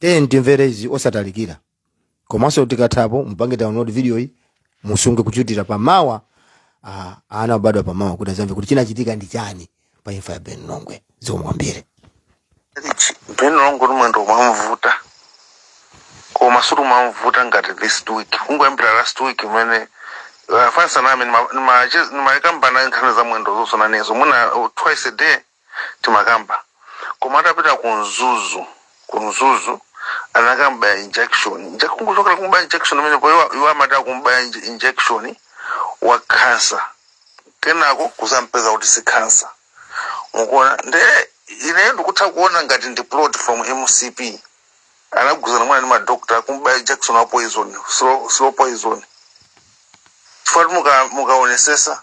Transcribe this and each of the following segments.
tiyeni timvere izi osatalikira komanso tikathapo mupange download video iyi musunge kuchitira pamawa ah, ana obadwa pamawa kuti azamve kuti chinachitika ndi chani pa imfa ya ben longwe zomwe kwambiri Rich, Ben Longwe mwendo umamvuta koma sikuti umamvuta ngati this week kungoyambira last week imene afanisa nami ndimakambana nkhani za mwendo zosona nezo mwina uh, twice a day timakamba koma atapita ku mzuzu ku mzuzu anakambaya injection Inje- kungochokera kumbaya injection imenepo iwo- iwo amati akumbaya inje- injection wa kansa kenako kuzampeza kuti si kansa mukuona nde ineyo ndikutha kuona ngati ndi plot from mcp anagwirizana mwina ndi madokta kumbaya injection wa poison slow, slow poison chifukwa mukaonesesa muka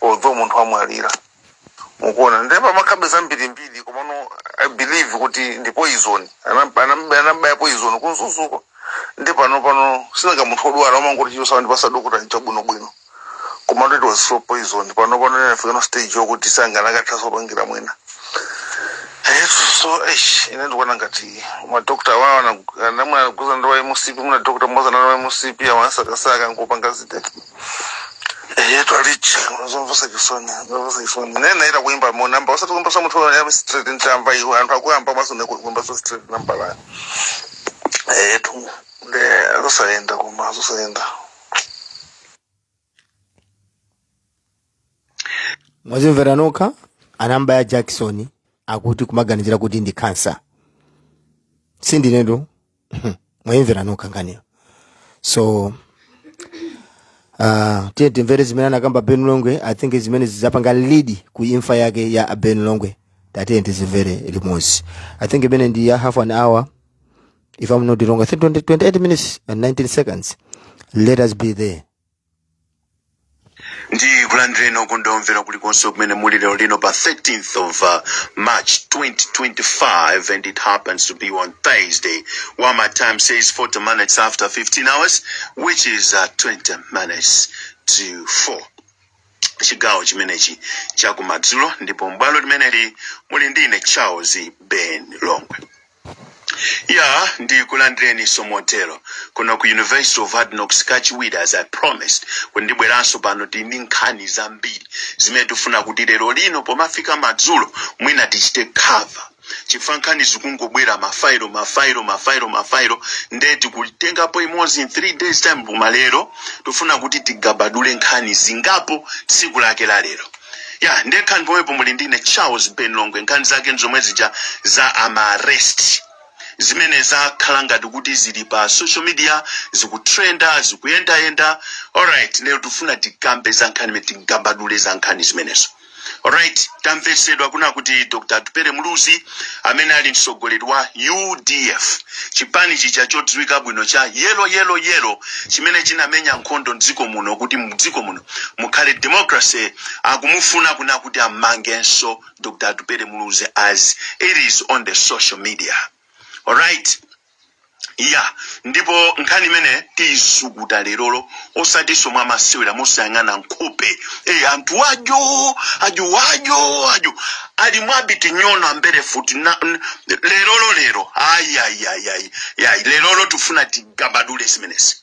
although munthu wamwalira mukuona nde pamakhalabe zambirimbiri komano i believe kuti ndi poison Anam- anam- anambaya poison ku mzuzuko nde panopano sinanga munthu odwala amangoti chilichonse wandipasa dokota ncha bwinobwino komano it was slow poison pano pano inafika on stage yokuti sanakathaso kupangira mwina Eh, so eish, ine ndikuona ngati madokota awawo ana- mwina anagwirizana ndi a mcp mwina dokota mmozi anali wa mcp amamsakasaka nkupanga zitete eyetu a richi ndi zomvesa chisoni ndi zomvesa chisoni nene naita kuimba mo namba osati kuimba sa muthu ya street ntamba iwe anthu akuyamba maso ne kuimba sa street namba la eyetu nde zosaenda koma zosaenda mwazimvera nokha anambaya jakisoni akuti kumaganizira kuti ndi kansa sindinetu mwayimvera nokha nkhaniyo so uh, tiye timvere zimene anakamba ben longwe i think zimene zapanga lead ku imfa yake ya ben longwe tatiye tizimvere limodzi i think imene ndi ya half an hour if i'm not wrong i think 20, 28 minutes and 19 seconds let us be there ndikulandireni okondedwa omvera kulikonse kumene muli lero lino pa 13th of uh, march 2025 and it happens to be on thursday while my time says 40 minutes after 15 hours which is uh, 20 minutes to 4 chigawo chimenechi chakumadzulo ndipo m'bwalo limeneli muli ndine charles ben longwe Ya, ndikulandireniso motero kuno ku University of Hard Knocks kachiwiri as I promised kuti ndibweranso pano tili ndi nkhani zambiri zimene tifuna kuti lero lino pomafika madzulo mwina tichite cover chifukwa nkhani zikungobwera mafailo mafailo mafailo mafailo nde tikutengapo imodzi in 3 days time koma lero tifuna kuti tigabadule nkhani zingapo tsiku lake la lero ya nde nkhani pomwepo muli ndine charles ben longwe nkhani zake nzomwe zija za amaarrest zimene zakhala ngati kuti zili pa social media zikutrenda zikuyendayenda alright lero tifuna tikambe za nkhani imene tigabadule za nkhani zimenezo alright tamvetsedwa kuna kuti dr atupele muluzi amene ali mtsogoleri wa udf chipani chija chodziwika bwino cha yelo yelo yelo chimene chinamenya nkhondo mdziko muno kuti mdziko muno mukhale democracy akumufuna kuna kuti ammangenso dr atupele muluzi as it is on the social media alright ya ndipo nkhani imene tiisukuta lerolo osatinso mwamasewera mosayang'ana nkhope e, anthu ajo ajo ajo ajo ali mwabiti nyono ambere futi na- n- lerolo lero ayi ayi ayi ayi ayi lerolo tifuna tigabadule zimenezi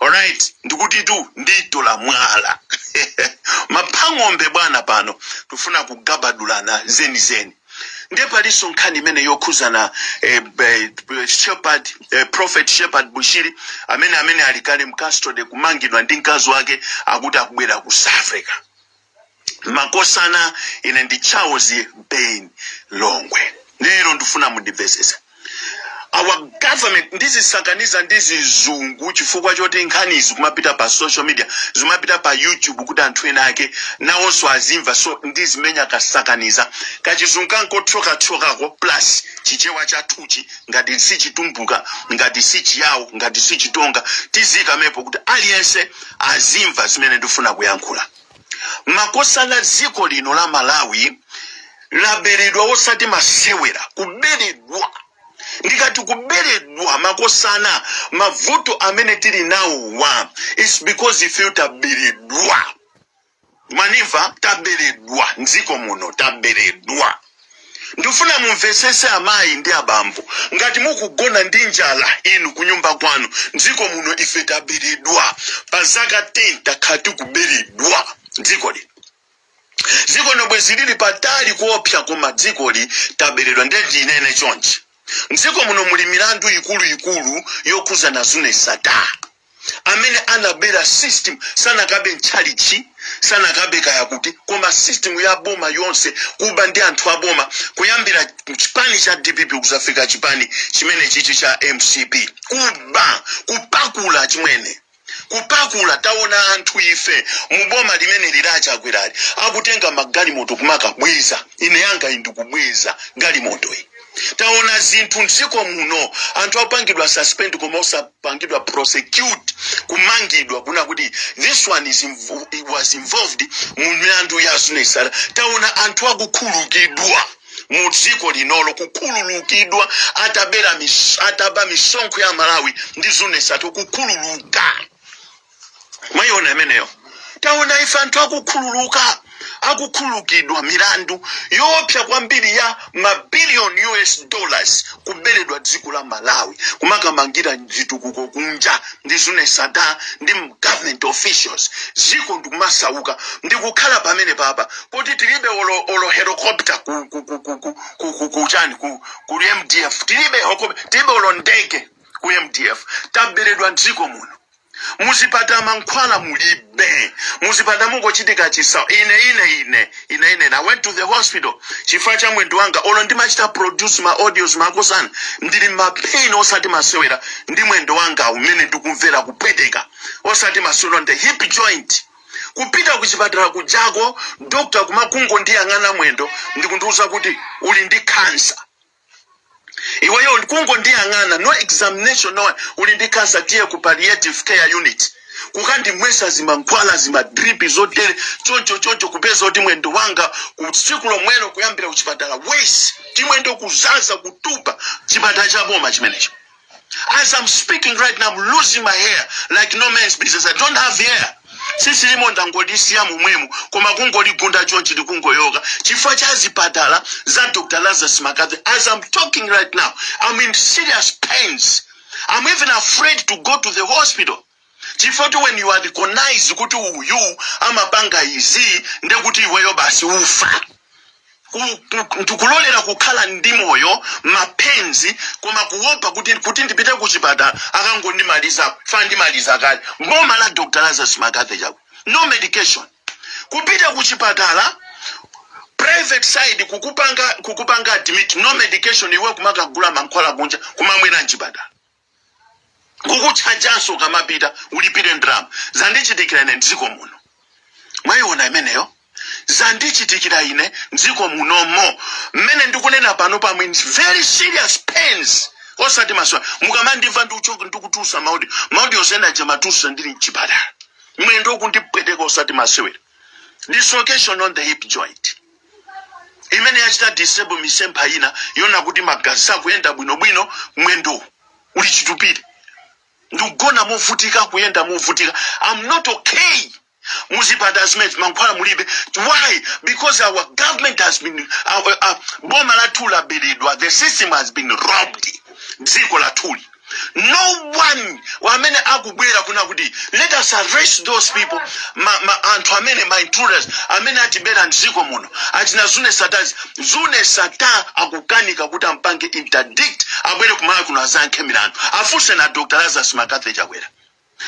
alright ndikutitu nditola mwala maphang'ombe bwana pano tufuna kugabadulana zenizeni ndiye palinso nkhani imene yokhuzana eh, eh, shepherd eh, prophet shepherd bushiri amene amene ali kale mcustody kumangidwa ndi mkazi wake akuti akubwera ku south africa makosana ine ndi charles ben longwe lero ndifuna mundimvesesa our government ndizisakaniza ndi zizungu chifukwa choti nkhani izi kumapita pa social media zimapita pa youtube kuti anthu ena ake nawonso azimva so ndizimenya kasakaniza kachizungu kangothyokathyokako plus chichewa chathuchi ngati sichitumbuka ngati sichiyawo ngati sichitonga tizikamepo kuti aliyense azimva zimene ndifuna kuyankhula makosana dziko lino la malawi laberedwa osati masewera kuberedwa ndikati kuberedwa makosana mavuto amene tili nawowa its because ife taberedwa mwandimva taberedwa mdziko muno taberedwa ndifuna mumvesese amayi ndi abambo ngati mukugona ndi njala inu kunyumba kwanu mdziko muno ife taberedwa pa zaka 10 takhala tikuberedwa dzikoli dziko lino bwezi lili patali kuopsa koma dzikoli taberedwa nde ndinene chonchi mdziko muno muli milandu ikuluikulu yokhuzana zuneth sattar amene anabera system sanakabe mtchalichi sanakabe kaya kuti koma system ya boma yonse kuba ndi anthu a boma kuyambira chipani cha dpp kuzafika chipani chimene chichi cha mcp kuba kupakula chimwene kupakula taona anthu ife muboma limene lili la chakwerali akutenga magalimoto kumakabweza ine yanga iyi ndikubweza galimoto iyi taona zinthu mdziko muno anthu akupangidwa suspend koma osapangidwa prosecute kumangidwa kuna kuti this one is invo was involved mu milandu ya Zuneth Sattar taona anthu akukhululukidwa mu dziko linolo kukhululukidwa atabera mis, ataba misonkho ya malawi ndi Zuneth Sattar kukhululuka mwayiona imeneyo taona ife anthu akukhululuka akukhululukidwa milandu yoopsa kwambiri ya mabiliyoni us dollars kuberedwa dziko la malawi kumakamangira zitukuko kunja ndi Zuneth Sattar ndi government officials dziko ndikumasauka ndikukhala mmene pano pa kuti tilibe olo, olo helicopter ku, ku, ku, ku, ku, ku, ku, ku, chani, ku, ku mdf tilibe, hoko- tilibe olo ndege ku mdf taberedwa dziko muno muzipatala mankhwala mulibe muzipatala mukungochitika chisa ine ine ine ine ine i went to the hospital chifukwa cha mwendo wanga olo ndimachita produce ma audios makosana ndili mma pain osati masewera ndi mwendo wanga umene ndikumvera kupweteka osati masewera ndi hip joint kupita kuchipatala kujako dokta kumakungondiyang'ana mwendo ndikundiuza kuti uli ndi kansa iweyo kungondiyang'ana no examination no uli ndi cancer tiye ku palliative care unit kukandimwesa zimankhwala zimadripi zotere choncho choncho kupeza kuti mwendo wanga kutsiku lomwelo kuyambira kuchipatala wesi timwendo kuzaza kutupa chipatala cha boma chimenecho As I'm speaking right now, I'm losing my hair like no man's business. I don't have hair. sisi limo ndangodisiya momwemo koma kungoligunda chonchi likungoyoka chifukwa cha zipatala za dr lazarus makadzi as i'm talking right now i'm in serious pains i'm even afraid to go to the hospital chifoti when you are recognized kuti uyu amapanga izi nde kuti iweyo basi ufa Ku- ku- ndikulolera kukhala ndi moyo mma pains koma kuopa kuti kuti ndipite kuchipatala akangondimaliza fa ndimaliza kale boma la dr lazarus mccarthy chakwera no medication kupita kuchipatala private side kukupanga kukupanga admit no medication iwe kumakagula mankhwala kunja kumamwera mchipatala kukutchajanso ukamapita ulipire ndalama zandichitikira ine mdziko muno mwayiona imeneyo zandichitikira ine mdziko munomo mmene ndikunena pano pa mwendo very serious pains osati masewera mukamandimva ndikuchoka ndikutulutsa ma audio ma audio osenaje ndimatulutsa ndili mchipatala mwendo kundipweteka osati masewera dislocation on the hip joint imene yachita disable misempha ina yonse kuti magazi sakuyenda bwinobwino mwendo uli chitupire ndikugona movutika kuyenda movutika am not okay muzipatala zimenezi mankhwala mulibe why because our government has been our, our, boma lathu laberedwa the system has been robbed dziko lathuli no one wamene akubwera kunena kuti let us arrest those people ma, ma anthu amene ma intruders amene atibera mdziko muno achina zuneth sattars zuneth sattar akukanika kuti ampange interdict abwere kumalawi kuno azayankhe milandu afunseni a dr lazarus mccarthy chakwera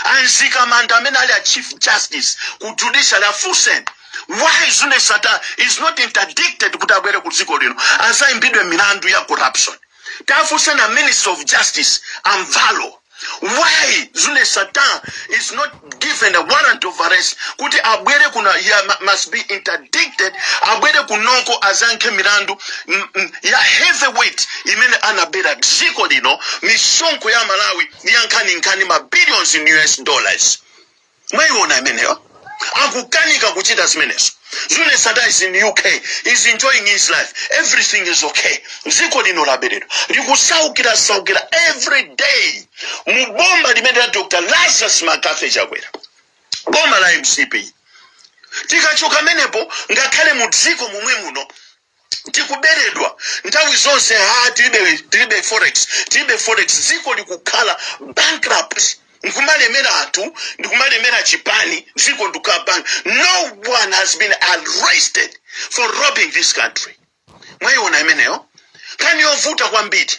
a mzikamanda amene ali a chief justice ku judiciary afunseni why zuneth sattar is not interdicted kuti abwere ku dziko lino azayimbidwe milandu ya corruption tafunseni a minister of justice a mvalo why zuneth sattar is not given a warrant of arrest kuti abwere kuno he mu- must be interdicted abwere kunoko azayankhe milandu mm, mm, ya heavyweight imene anabera dziko lino misonkho ya malawi ndi yankhaninkhani ma billions in us dollars mwayiona imeneyo akukanika kuchita zimenezo zuneth sattar is in uk is enjoying his life everything is okay dziko lino laberedwa likusaukira saukira every day mu boma limene la dr lazarus mccarthy chakwera boma la mcp tikachoka pamenepo ngakhale mu dziko momwe muno tikuberedwa nthawi zonse ha tilibe tilibe forex tilibe forex dziko likukhala bankrupt ndikumalemera anthu ndikumalemera chipani dziko ndikukhala bank no one has been arrested for robbing this country mwayiona imeneyo nkhani yovuta kwambiri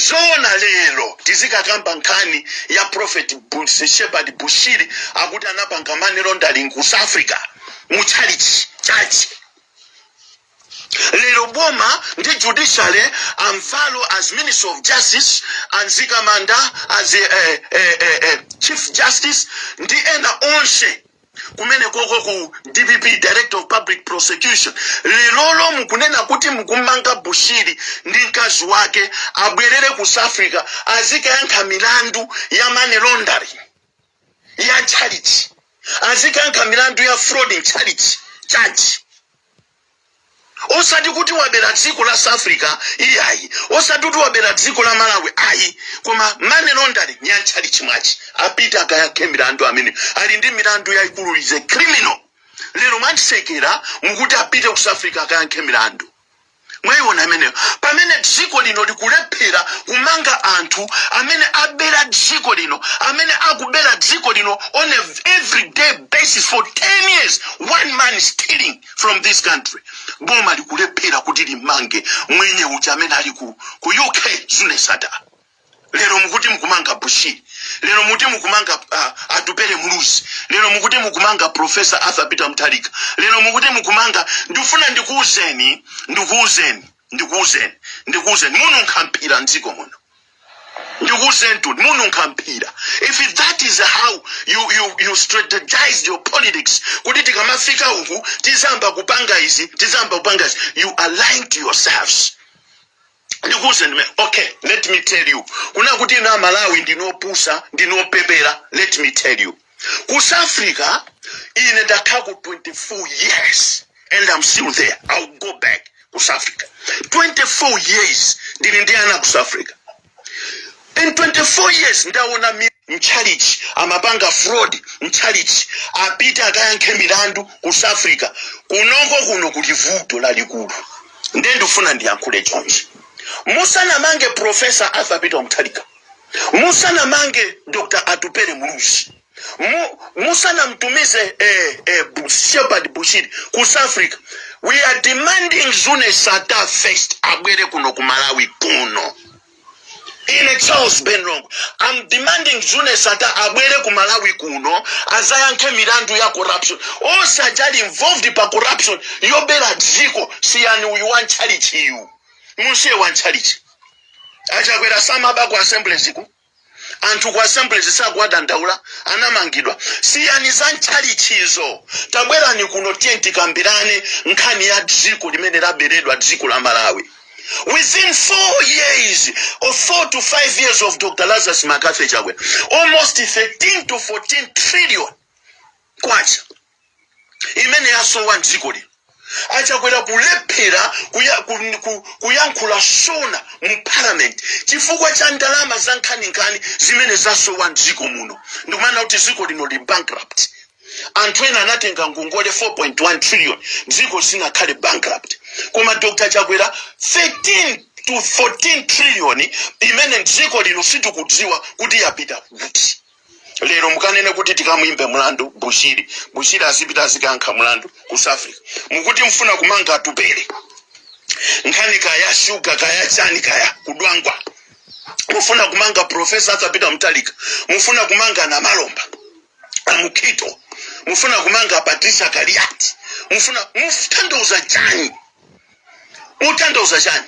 zoona lero tizikakamba nkhani ya prophet Bu- shepherd bushiri akuti anapanga money laundering ku south africa mu tchalitchi chache lero boma ndi judiciary a mvalo as minister of justice a mzikamanda as eh, eh, eh, eh, chief justice ndi ena onse kumene koko ku dpp director of public prosecution lerolo mukunena kuti mukumanga bushiri ndi mkazi wake abwerere ku south africa azikayankha milandu ya money laundering ya tchalitchi azikayankha milandu ya fraud mtchalitchi chache osati kuti wabera dziko la south africa iyayi osati kuti wabera dziko la malawi ayi koma money laundering ya mtchalitchi mwache apita akayankhe milandu amene ali ndi milandu yayikulu is a criminal lero mwandisekera mukuti apite ku south africa akayankhe milandu mwayiona imeneyo pamene dziko lino likulephera kumanga anthu amene abera dziko lino amene akubera dziko lino on a everyday basis for 10 years one man stealing from this country boma likulephera kuti limange mwenye uja amene ali ku, ku uk zuneth sattar lero mukuti mukumanga bushiri lero mukuti mukumanga uh, atupele muluzi lero mukuti mukumanga profesa arthur peter mutharika lero mukuti mukumanga ndifuna ndikuuzeni ndikuuzeni ndikuuzeni ndikuuzeni mununkha mphira mdziko muno ndikuuzenitu mununkha mphira if that is how you, you, you strategized your politics kuti tikamafika uku tizamba kupanga izi tizamba kupanga izi you are lying to yourselves ndikuuzeni ndiye okay let me tell you mukuona kuti inu amalawi ndinopusa ndinopepera let me tell you Ku South Africa, ine ndakhala ku 24 years and I'm still there. I'll go back ku South Africa. 24 years ndili ndi ana ku South Africa. In 24 years ndaona mi- mtchalitchi amapanga fraud mtchalitchi apita akayankhe milandu ku South Africa kunoko kuno kuli vuto lalikulu nde ndifuna ndiyankhule chonchi musanamange profesa arthur peter mutharika musanamange dr atupele muluzi mu, musanamtumize eh, eh, Bu- shepard bushiri ku south africa we are demanding zuneth sattar first abwere kuno ku malawi kuno ine charles ben longwe am demanding zuneth sattar abwere ku malawi kuno azayankhe milandu ya corruption onse amene ali involved pa corruption yobera dziko siyani uyu wa mtchalitchiyu mumsiye wa mtchalitchi achakwera samaba ku assemblies ku anthu ku assemblies sakuwadandaula anamangidwa siyani za mtchalitchizo tabwerani kuno tiyeni tikambirane nkhani ya dziko limene laberedwa dziko la malawi within four years or four to five years of dr lazarus mccarthy chakwera almost 13 to 14 trillion kwacha imene yasowa mdziko lino achakwera kulephera kuya, ku, ku, kuyankhula sona mu parliament chifukwa cha ndalama za nkhaninkhani zimene zasowa mdziko muno ndikumanena kuti dziko lino lili bankrupt anthu ena anatenga ngongole 4.1 trillion dziko silinakhale bankrupt koma dr chakwera 13 to 14 trillion imene dziko lino sitikudziwa kuti yapita kuti lero mukanene kuti tikamuyimbe mlandu bushiri bushiri azipita azikayankha mlandu ku south africa mukuti mfuna kumanga atupele nkhani kaya shuga kaya chani kaya kudwangwa mufuna kumanga profesa arthur peter mutharika mufuna kumanga namalomba amukhito mufuna kumanga patricia kaliati mufuna mutanthauza chani mutanthauza chani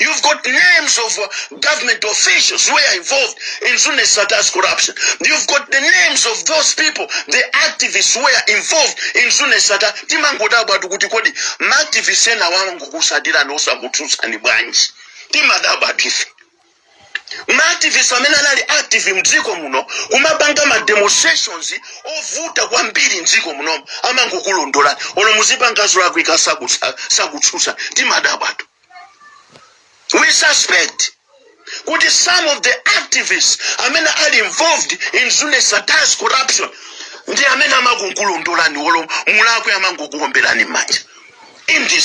You've got names of uh, government officials who were involved in Zuneth Sattar's corruption. You've got the names of those people, the activists who were involved in Zuneth Sattar. Timangodabwatu kuti kodi ma activists ena angokusapotani osakutsutsani bwanji. Timadabwatu ife. Ma activists amene anali active mdziko muno kumapanga ma demonstrations ovuta kwambiri mdziko muno amangokulondolani olo muzipanga zolakwika sakutsa sakutsutsa timadabwatu. we suspect kuti some of the activists amene are involved in Zuneth Sattar's corruption ndi amene amakulondolani wolo mulakwe amangokuomberani m'manja in this